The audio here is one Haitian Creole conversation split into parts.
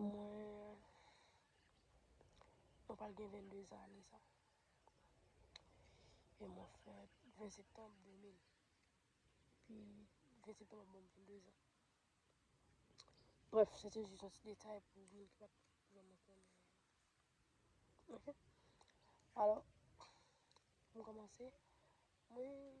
Mwen pral gen 22 zan ane sa. E mwen fèt 20 septanm 2000. Pi 20 septanm ap banm 22 zan. Bref, se te jis yon ti detay pou moun ki pat vreman konnen. Ok? Alò, mwen kòmanse. Mwen...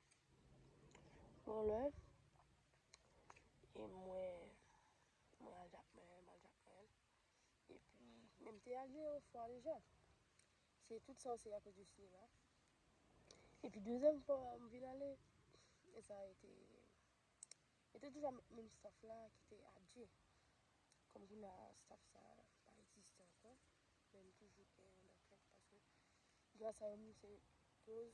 Bon lè e mwen mwen al Jakmèl, mwen al Jakmèl epi men m te al yon fwa deja se tout sa se akoz de sinema epi dezyèm fwa m vin ale e sa e te e te toujou avèk menm staf la ki te Adje kòm kounye a staf sa pa egziste ankò men m toujou gen nan kèk paske gras a yo m se koz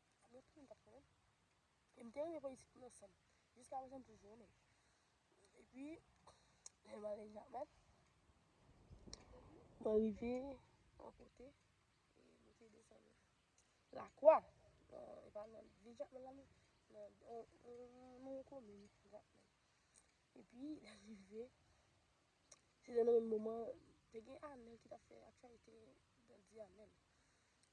Mwen te renmen tap fè. E m te renmen politik nan san. Jiska prezan m toujou renmen. E pi, lè m ale Japan, mwen rive yon kote, e mwen te desann la kwa. E pa nan vil Japan la men, nan yon komin Japan. E pi, lè m rive, se nan menm moman, te gen Anel ki tap fè aktyalite, Dandi Anel.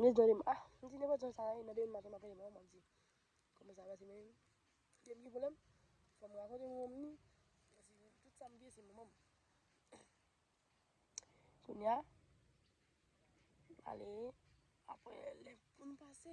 Nez nan dem ah m di nenpòt jan sa ye nan demen maten m ap rele manman m ap di kòman sa pase menm eske m gen pwoblèm fò m rakonte manman m ni paske tout sa m bliye se manman m kounya ale aprè lè pou n pase.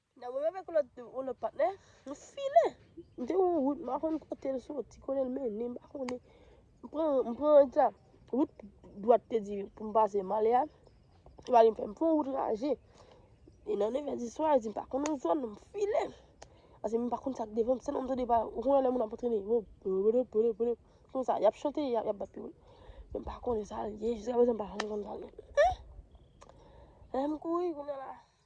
Nan mwen menm ak yon lòt yon lòt patnè, nou file. M te yon wout m pa konn kote l soti, kote l mennen m pa konnen. M pran m pran egzanp, wout dwat te di pou m pase m ale a, li pa vin fè m pran wout raje. E nan nevè diswa, li di m pa konn yon zòn, m file. Ase m pa konn sa k devan m, sèlman m tande pa, ou konnen lè moun ap antrene, yo pwede pwede pwede, kon sa, y ap chante, y ap bat pi wòl. M pa konnen sa l ye, jiskaprezan m pa konn sa l ye. Lè m kouri kounye a la.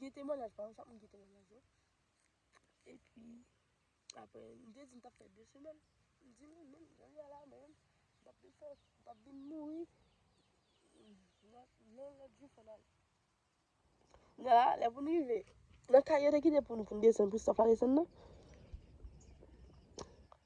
Gen temwanyaj pa yo, chak moun gen temwanyaj yo. E pi, apre, m te di m t ap fè de semèn. M di li menm, jan l ye a la menm, m t ap vin fè, m t ap vin mouri. Nan lòt jou fò n al. Lè a, lè pou n rive, nan kay yo te kite pou nou pou n desann, pou staf la desann nan.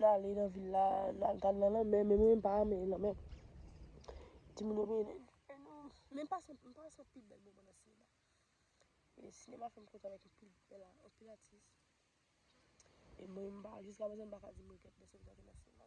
Nale nan vil la, nale gade nan lanmè, men mwen pa renmen lanmè. Ti moun yo renmen lanmè. Men m pa se pi bèl moman nan sinema. E sinema fè m kontan anpil, anpil atis. E mwen m pa, jiska prezan m pa ka di m regrèt lè sot gade nan sinema.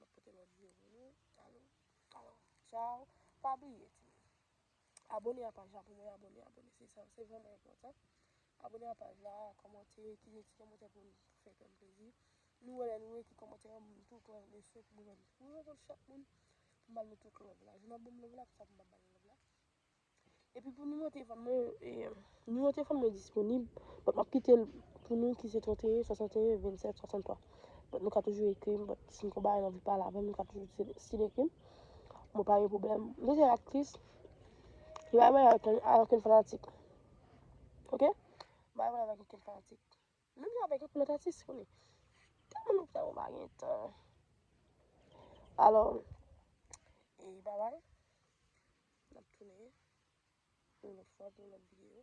Map pote lot view pou nou. Alo alo ciao pa bliye ti moun abone a paj la pou mwen abone abone se sa se vreman enpotan abone a paj la komante kite ti komante pou nou sa fe kem plezi nou we le nou ekri komante yo m tou pran le swen pou mwen mwen renkontre chak moun pou m bal nou tout love la jou nan banm love la pou sa pou m pa bal love la. Epi pou nimewo telefòn mwen yo, nimewo telefòn mwen disponib, bòt m ap kite l pou nou ki se 31 61 27 63. Bòt nou ka toujou ekri m, bòt si n kon bagay nou anvi pale avè m, nou ka toujou stil ekri m. Mwen pa gen pwoblèm. Mwen se aktris, mwen pa gen pwoblèm avèk okenn fanatik. Ok? Mwen pa gen pwoblèm avèk okenn fanatik. Menm jan avèk tout lòt atis yo li tèlman lòt bagay ou pa gen tan. Alò e babay nap tounen yon lòt fwa pou yon lòt videyo.